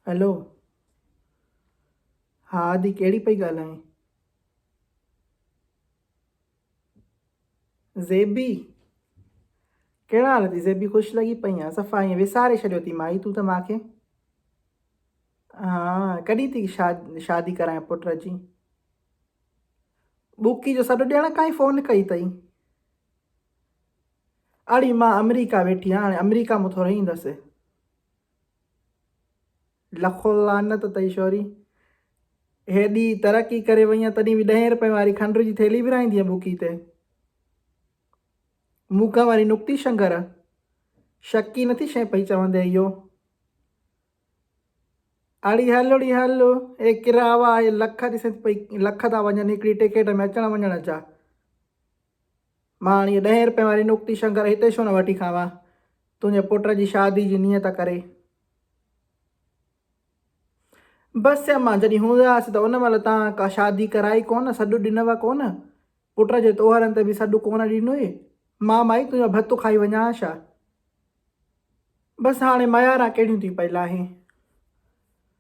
Hello ها آدي ڪهڙي پئي ڳالهائين زيبي ڪهڙا حال اٿي زيبي خوش لڳي پئي آهي صفا ائين وساري ڇڏيو اٿي مائي تون ته ماکي ها ڪڏهن ٿي شاد شادي ڪرائين پٽ جي ٻوڪي جو سڏ ڏيڻ کان ئي فون ڪئي اٿئي اڙي مان آمريڪا ويٺي آهيان هاڻي آمريڪا مان ٿوري ايندس لکو لعنت تئي شوري هيڏي ترقي ڪري وئي تڏهن به ڏهين رپئي واري کنڊ جي ٿيلي ورائيندي بوڪي تي موکا واري نڪتي شنگر شڪي نٿي شي پئي چوندي اهو اڙي هل اڙي هل اي ڪراوا اي لک ڏسي پئي لک ٿا وڃن هڪڙي ٽڪيٽ ۾ اچڻ وڃڻ جا مان هاڻي ڏهين رپين واري نوڪتي شنگر هتي ڇو نه وٺي کاوان تنهنجي پٽ جي شادي جي نيت ڪري. بس امان جڏهن هوندا هئاسين ته ان مهل تان ڪا شادي ڪرائي ڪونه سڏ ڏنوء ڪونه پٽ جي تهوارن تي به سڏ ڪونه ڏنوئي مان مائي تنهنجو ڀت کائي وڃان ها ڇا. بس هاڻي مياران ڪهڙيون ٿي پئي لاهين.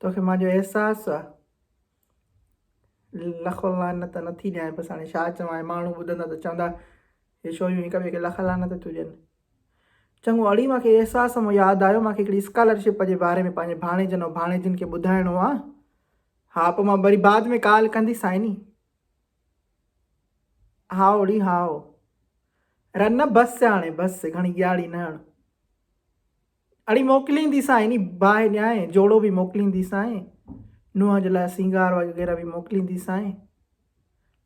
توکي مان جو احساس آ. لخ لعنت نه ٿي ڏيانء بس هاڻي ڇا چوان هي ماڻهو ٻڌندا ته چوندا هي ڇوريون هڪ ٻئي کي لخ لعنت ٿيون ڏين. چڱو اڙي مان کي احساس مون ياد آيو مان کي هڪڙي اسڪالر شپ جي باري ۾ پنهنجي ڀاڻيجن ۽ ڀاڻيجين کي ٻڌائڻو آ ها پوء مان وري بعد ۾ ڪال ڪندي سائني. هائو ڙي هائو. رنه بس هاڻي بس گهڻي ڳياڙي نه هڻ. اڙي موڪلينديسانء يعني باهه ڏيانء، جوڙو به موڪلينديسانء، نونهن جي لاء سينگار وغيره به موڪلينديسانء.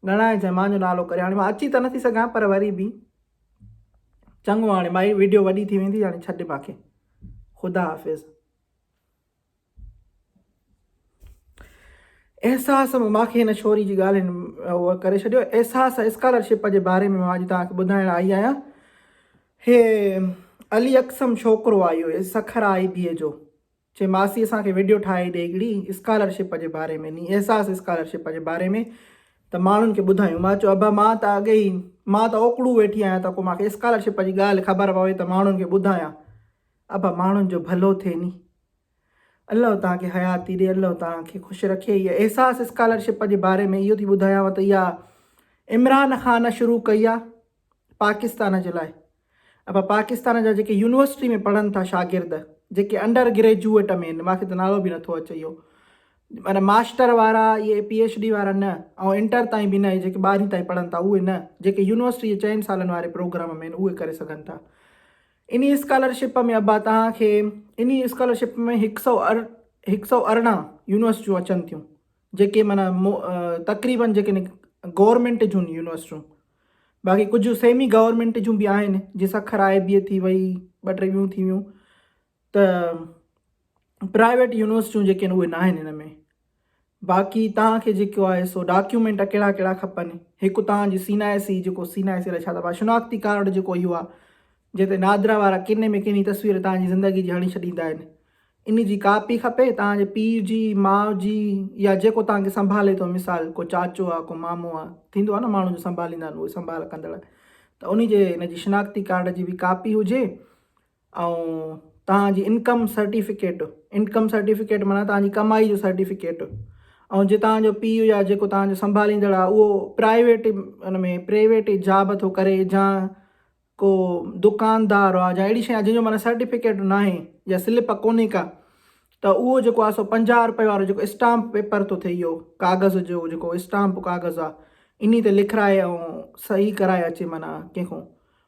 ڳڻائي جنهن مان جو نالو ڪري هاڻي مان اچي ته نٿي سگهان پر وري به چڱو هاڻي مائي وڊيو وڏي ٿي ويندي هاڻي ڇڏ مانکي خدا حافظ. احساس ماکي هن ڇوري جي ڳالهين اهو ڪري ڇڏيو احساس اسڪالرشپ جي باري ۾ اڄ توهان کي ٻڌائڻ آئي آهيان هي علي اقسم ڇوڪرو آيو هي سکر آئي بي جو چي ماسي اسان کي ويڊيو ٺاهي ڏي هڪڙي اسڪالرشپ جي باري ۾ ني احساس اسڪالرشپ جي باري ۾ ته ماڻهن کي ٻڌايون مان چيو ابا مان ته اڳي ئي مان ته اوڪڙو ويٺي آهيان ته ڪو ماکي اسڪالرشپ جي ڳالهه خبر پوي ته ماڻهن کي ٻڌايان ابا ماڻهن جو ڀلو ٿئي ني. الله توهان کي حياتي ڏي الله توهان کي خوش رکي هي احساس اسڪالرشپ جي باري ۾ اهو ٿي ٻڌايانو ته اها عمران خان شروع ڪئي آهي پاڪستان جي لاء ابا پاڪستان جا جيڪي يونيورسٽي ۾ پڙهن ٿا شاگرد جيڪي انڊر گريجوئيٽ ۾ آهن ماکي ته نالو به نٿو اچي اهو معنيٰ ماسٽر وارا اهي پي ايڇ ڊي وارا نه ۽ انٽر تائين به نه جيڪي ٻارهين تائين پڙهن ٿا اهي نه جيڪي يونيورسٽي جي چئن سالن واري پروگرام ۾ آهن اهي ڪري سگهن ٿا انهي اسڪالرشپ ۾ ابا توهان کي انهي اسڪالرشپ ۾ هڪ سئو هڪ سئو ارڙهن يونيورسٽيون اچن ٿيون جيڪي معنيٰ تقريبن جيڪي گورنمينٽ جون يونيورسٽيون باقي ڪجهه سيمي گورنمينٽ جون به آهن جي سکر آء بي ٿي وئي ٻه ٽي ٻيون ٿي ويون ته پرائيويٽ يونيورسٽيون جيڪي آهن اهي ناهن هن ۾ باقي توهان کي جيڪو آهي سو ڊاڪيومينٽ ڪهڙا ڪهڙا کپن هڪ توهان جي سين آء سي جيڪو سين آء سي لاء ڇا چئبو آهي شناختي ڪارڊ جيڪو اهو آهي جنهن تي نادرا وارا ڪني ۾ ڪني تصوير توهان جي زندگي جي هڻي ڇڏيندا آهن ان جي ڪاپي کپي توهان جي پيء جي ماء جي يا جيڪو توهان کي سنڀالي ٿو مثال ڪو چاچو آهي ڪو مامو آهي ٿيندو آهي نه ماڻهو جو سنڀاليندا آهن اهي سنڀال ڪندڙ ته ان جي ان جي شناختي ڪارڊ جي به ڪاپي هجي ۽ توهان جي انڪم سرٽيفڪيٽ، Income Certificate، معنيٰ توهان جي ڪمائي جو سرٽيفڪيٽ، ۽ جي توهان جو پيء يا جيڪو توهان جو سنڀاليندڙ آهي اهو پرائيويٽ ان ۾ پريويٽ جاب ٿو ڪري جا ڪو دڪاندار آهي جا اهڙي شي آهي جنهن جو معنيٰ سرٽيفڪيٽ نه آهي يا سلپ ڪونهي ڪا ته اهو جيڪو آهي سو پنجاهه روپئي وارو جيڪو اسٽامپ پيپر ٿو ٿئي اهو ڪاغذ جو جيڪو اسٽامپ ڪاغذ آهي انهي تي لکرائي ۽ صحيح ڪرائي اچي معنيٰ ڪنهن کان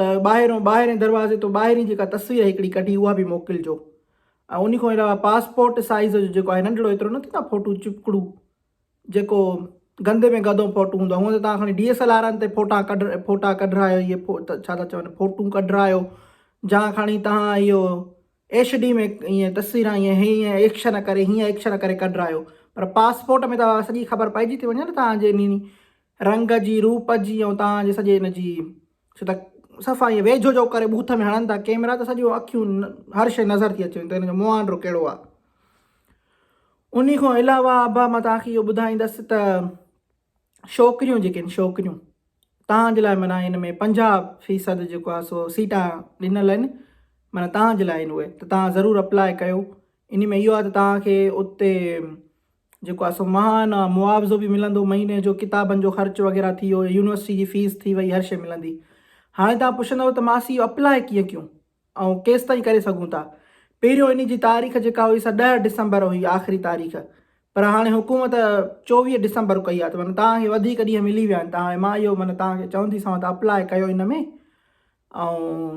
ته ٻاهريون ٻاهرين دروازي تون ٻاهرين جيڪا تصوير هڪڙي ڪڍي اها به موڪلجو ۽ انهي کان علاوه پاسپورٽ سائيز جو جيڪو آهي ننڍڙو ايترو نه ٿيندو آهي ڦوٽو چپڪڙو جيڪو گندي ۾ گدو ڦوٽو هوندو آهي هونء ته توهان کڻي ڊي ايس ايل آرن تي ڦوٽا ڪڍ ڦوٽا ڪڍرايو اهي ڇا ٿا چون ڦوٽون ڪڍرايو جا کڻي توهان اهو ايش ڊي ۾ ائين تصويران ائين هيئن ايڪشن ڪري هيئن ايڪشن ڪري ڪڍرايو پر پاسپورٽ ۾ ته سڄي خبر پئجي ٿي وڃي نه توهان جي انهي رنگ جي، روپ جي ۽ توهان جي سڄي ان جي ڇو ته صفا ائين ويجهو جو ڪري بوٿ ۾ هڻن ٿا ڪيمرا ته سڄيون اکيون هر شيء نظر ٿي اچي ته هن جو مهانڊو ڪهڙو آهي انهي کان علاوه ابا مان توهان کي اهو ٻڌائيندس ته شوڪريون جيڪي آهن شوڪريون توهان جي لاء معنيٰ ان ۾ پنجاهه فيصد جيڪو آهي سو سيٽان ڏنل آهن معنيٰ توهان جي لاء آهن اهي ته توهان ضرور اپلاء ڪيو ان ۾ اهو آهي ته توهان کي اتي جيڪو آهي سو ماهانه معاوضو به ملندو، مهيني جو ڪتابن جو خرچ وغيره ٿي ويو، يونيورسٽي جي فيس ٿي وئي هر شيء ملندي. هاڻي توهان پڇندؤ ته ماسي اهو اپلاء ڪيئن ڪيون ۽ ڪيستائين ڪري سگهون ٿا. پهريون انهي جي تاريخ جيڪا هئي سا ڏهه ڊسمبر هئي آخري تاريخ پر هاڻي حڪومت چوويهه ڊسمبر ڪئي آهي ته معنيٰ توهان کي وڌيڪ ڏينهن ملي ويا آهن ته هاڻي مان اهو معنيٰ توهان کي چونديسانو ته اپلاء ڪيو ان ۾ ۽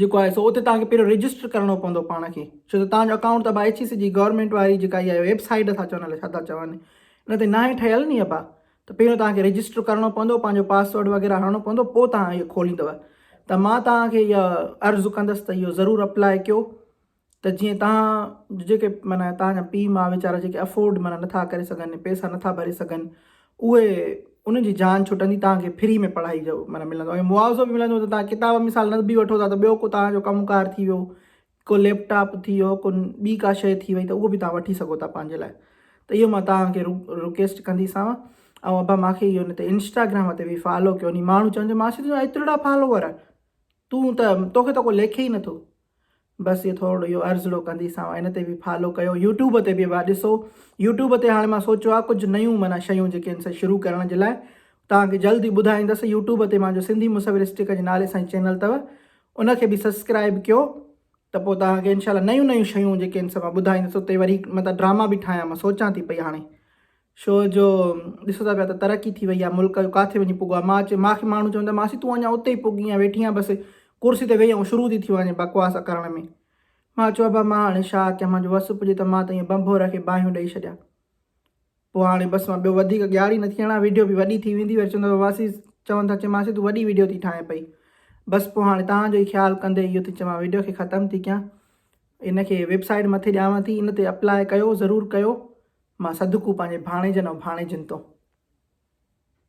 جيڪو آهي سو اتي توهان کي پهريون رجسٽر ڪرڻو پوندو پاڻ کي ڇو ته توهان جو اڪائونٽ ته ابا ايڇ اي سي جي گورنمينٽ واري جيڪا اها ويب سائيٽ اٿا چون الاء ڇا ٿا چون ان تي ناهي ٺهيل ني ابا ته پهريون توهان کي رجسٽر ڪرڻو پوندو پنهنجو پاسورڊ وغيره هڻڻو پوندو پوء توهان اهي کوليندو ته مان توهان کي اها عرض ڪندس ته اهو ضرور اپلاء ڪيو ته جيئن توهان جو جيڪي معنيٰ توهان جا پيء ماء ويچارا جيڪي افورڊ معنيٰ نٿا ڪري سگهن پيسا نٿا ڀري سگهن اهي انهن جي جان ڇٽندي توهان کي فري ۾ پڙهائي جو معنيٰ ملندو ۽ معاوضو به ملندو ته توهان ڪتاب مثال نه به وٺو ٿا ته ٻيو ڪو توهان جو ڪم ڪار ٿي ويو ڪو ليپ ٽاپ ٿي ويو ڪو ٻي ڪا شيء ٿي وئي ته اهو به توهان وٺي سگهو ٿا پنهنجي لاء ته اهو مان توهان کي رڪيسٽ ڪنديسانو ۽ ابا ماکي اهو نه ته انسٽاگرام تي به فالو ڪيو ني ماڻهو چون جو ماسي تنهنجا ايترڙا فالوور تون ته توکي ته ڪو ليکي ئي نٿو بس اهو ٿورڙو اهو عرضڙو ڪندي سان هن تي به فالو ڪيو يوٽيوب تي به ڀيا ڏسو يوٽيوب تي هاڻي مان سوچيو آهي ڪجهه نيون معنيٰ شيون جيڪي آهن سي شروع ڪرڻ جي لاء توهان کي جلد ئي ٻڌائيندس يوٽيوب تي مانجو سنڌي مصورسٽڪ جي نالي سان چينل اٿو ان کي به سبسڪرائب ڪيو ته پوء توهان کي انشاء الله نيون نيون شيون جيڪي آهن سي مان ٻڌائيندس اتي وري مطلب ڊراما به ٺاهيان مان سوچان ٿي پئي هاڻي شو جو ڏسو ٿا پيا ته ترقي ٿي وئي آ ملڪ جو ڪاٿي وڃي پڳو آ ماچ ماکي ماڻهو چون ته ماسي تون اڃا اتي ئي پڳي آ ويٺي آ بس ڪرسي تي ويهي آئون شروع ٿي ٿيو وڃي بڪواس ڪرڻ ۾ مان چيو ابا مان هاڻي شا ڪيان مان جو وس پڄي ته مان ته ائين بنڀور کي باهيون ڏئي ڇڏيان پوء هاڻي بس مان ٻيو وڌيڪ ڳياري نه ٿي هڻا ويڊيو به وڏي ٿي ويندي وري چون ته ماسي چون ٿا چي ماسي تون وڏي ويڊيو ٿي ٺاهين پئي بس پوء هاڻي تان جو ئي خيال ڪندي اهو ٿي چوان ويڊيو کي ختم ٿي ڪيان ان کي ويب سائيٽ مٿي ڏيانو ٿي ان تي اپلاء ڪيو ضرور ڪيو مان صدقو پنهنجي ڀاڻيجن ۽ ڀاڻيجين تون.